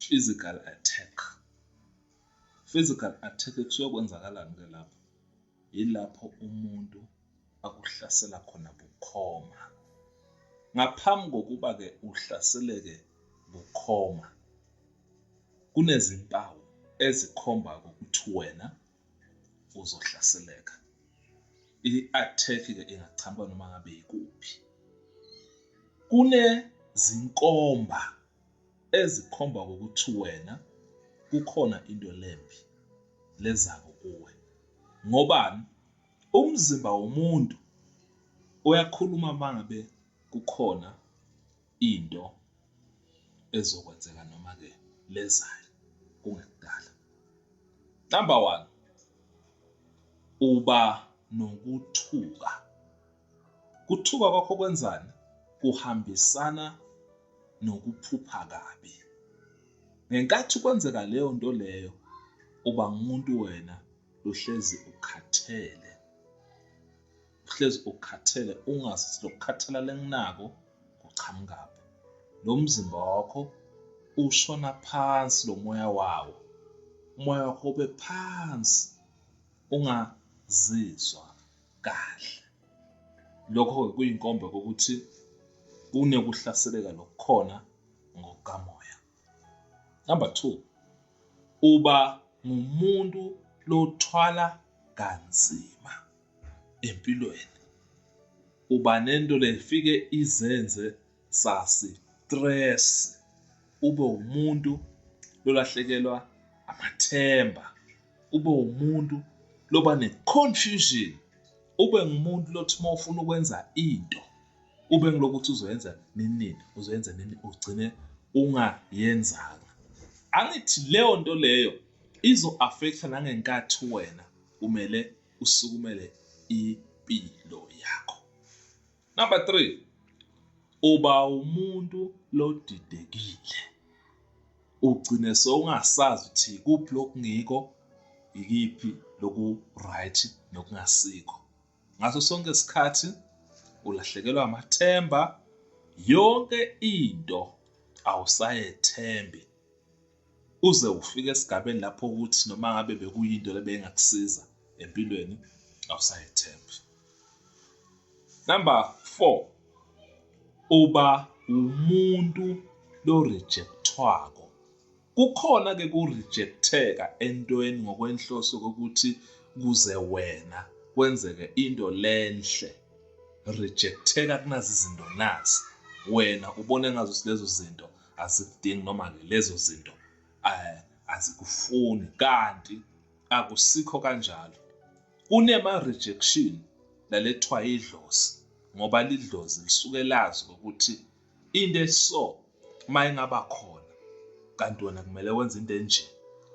physical attack physical attack kusuyokwenzakala-ke ke lapho yilapho umuntu akuhlasela khona bukhoma ngaphambi kokuba-ke uhlaseleke bukhoma kunezimpawu ezikhomba ukuthi wena uzohlaseleka i-attack-ke ingachamba noma ngabe yikuphi kunezinkomba ezikhomba ukuthi wena kukhona into lembi lezako kuwe ngobani umzimba womuntu uyakhuluma mangabe kukhona into ezokwenzeka noma ke lezayo kungekudala number 1 uba nokuthuka Kuthuka kwakho kwenzani? Kuhambisana nokuphupha kabi. Ngenkathi kwenzeka leyo nto leyo, uba ngumuntu wena uhlezi ukhathele. Uhlezi ukhathele ungazi ukuthi lokukhathala lenginako kuqhamukaphi. Lo mzimba wakho ushona phansi lo moya wawo. Umoya wakho ube phansi ungazizwa kahle lokho kuyinkomba kokuthi kunekuhlaseleka lokukhona ngokukamoya number 2 uba ngumuntu lothwala kanzima empilweni uba nento lefike izenze sasi stress ube umuntu lolahlekelwa amathemba ube umuntu loba ne-confusion ube ngumuntu lothi uma ufuna ukwenza into ube ngilokuthi uzoyenza nini uzoyenza nini ugcine ungayenzanga angithi leyo nto leyo izo-affecta nangenkathi wena kumele usukumele impilo yakho Number 3. Uba umuntu lodidekile. Ugcine sowungasazi ukuthi kuphi lokungiko ikiphi loku right nokungasikho. Ngaso sonke isikhathi ulahlekelwa amathemba yonke into awusayethembi uze ufike esigabeni lapho ukuthi noma ngabe bekuyinto lebengakusiza empilweni awusayethembi number 4 uba umuntu lo rejectwako kukhona ke ku rejecteka entweni ngokwenhloso kokuthi kuze wena kwenzeke into lenhle rejecteka kunazi izinto nazi wena ubone ngazo lezo zinto asikudingi noma-ke lezo zinto um azikufuni kanti akusikho kanjalo kunema-rejection lalethiwa idlozi ngoba lidlozi lisuke lazi ukuthi into eso uma ingaba khona kanti wena kumele wenze into enje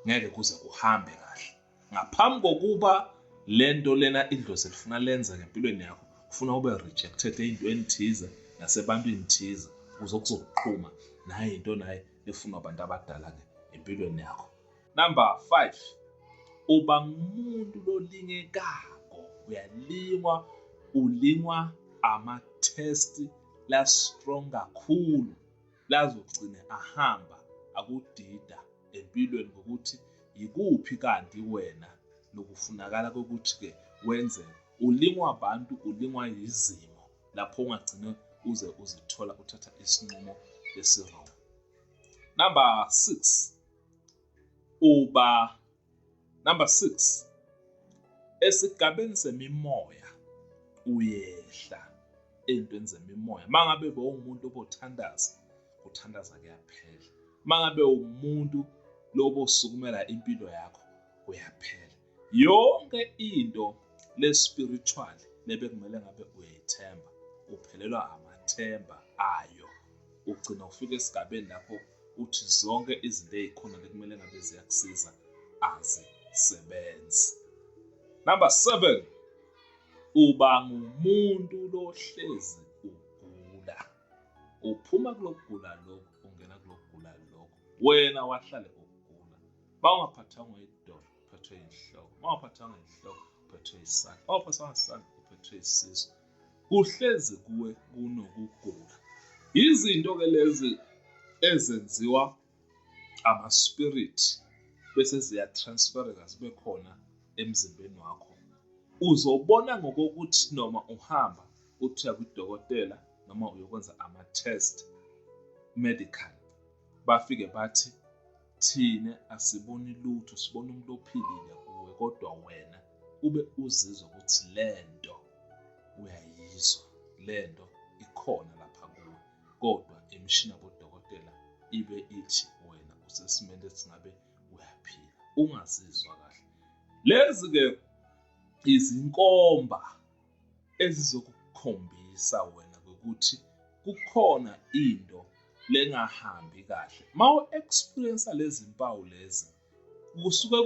ngeke kuze kuhambe kahle ngaphambi kokuba le nto lena idlozi lifuna lenza ngempilweni yakho kufuna ube rejected ey'ntweni thize nasebantwini thize ukuze kuzokuqhuma naye into naye efunwa abantu abadala-ke empilweni yakho number five uba ngumuntu lolingekako uyalingwa ulingwa amathesti la-strong kakhulu lazogcine ahamba akudida empilweni ngokuthi yikuphi kanti wena nokufunakala kokuthi-ke wenze ulingwa abantu ulingwa yizimo lapho ungagcine uze uzithola uthatha isinqumo esirong number six uba Number 6. Esigabeni semimoya uyehla ezintweni zemimoya. Mangabe bewumuntu obothandaza, uthandaza kuyaphela. Mangabe umuntu lobosukumela impilo yakho uyaphela. Yonke into le spiritual lebekumele ngabe uyayithemba, uphelelwa amathemba ayo. Ugcina ufika esigabeni lapho ukuthi zonke izinto ezikhona bekumele ngabe ziyakusiza azisebenzi number 7 uba ngumuntu lohlezi ugula uphuma kulokugula lokho ungena kulokugula lokho wena wahlale ugula bawungaphathanga idolo uphethwe inhloko bawungaphathanga inhloko uphethwe isandla bawungaphathanga isandla uphethwe isisu kuhlezi kuwe kunokugula izinto ke lezi ezenziwa ama spirit bese ziya transfereka zibe khona emzimbeni wakho uzobona ngokokuthi noma uhamba uthiya kudokotela noma uyokwenza ama test medical bafike bathi Thina asiboni lutho, sibona umuntu ophilile kuwe kodwa wena ube uzizwa ukuthi lento uyayizwa, lento ikhona lapha kuwe. Kodwa imishini yabodokotela ibe ithi wena usesimeni esingabe uyaphila, ungazizwa kahle. Lezi-ke izinkomba ezizokukhombisa wena ukuthi kukhona into lengahambi kahle mawu experience lezi mpawu lezi kusuke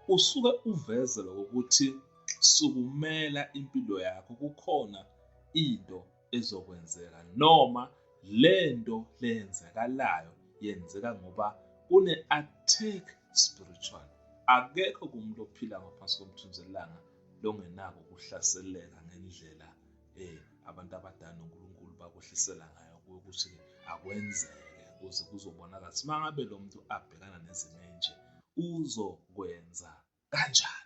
usuke uvezela ukuthi sukumela impilo yakho kukhona into ezokwenzeka noma lento leyenzakalayo yenzeka ngoba kune attack spiritual akekho kumuntu ophila ngaphansi komthunzelanga longenako ukuhlaseleka ngendlela eh abantu abadala noNkulunkulu bakwehlisela ngayo ukuthi akwenzeke kuze kuzobonakala ukuthi mangabe lo muntu abhekana nezimo enje uzokwenza kanjani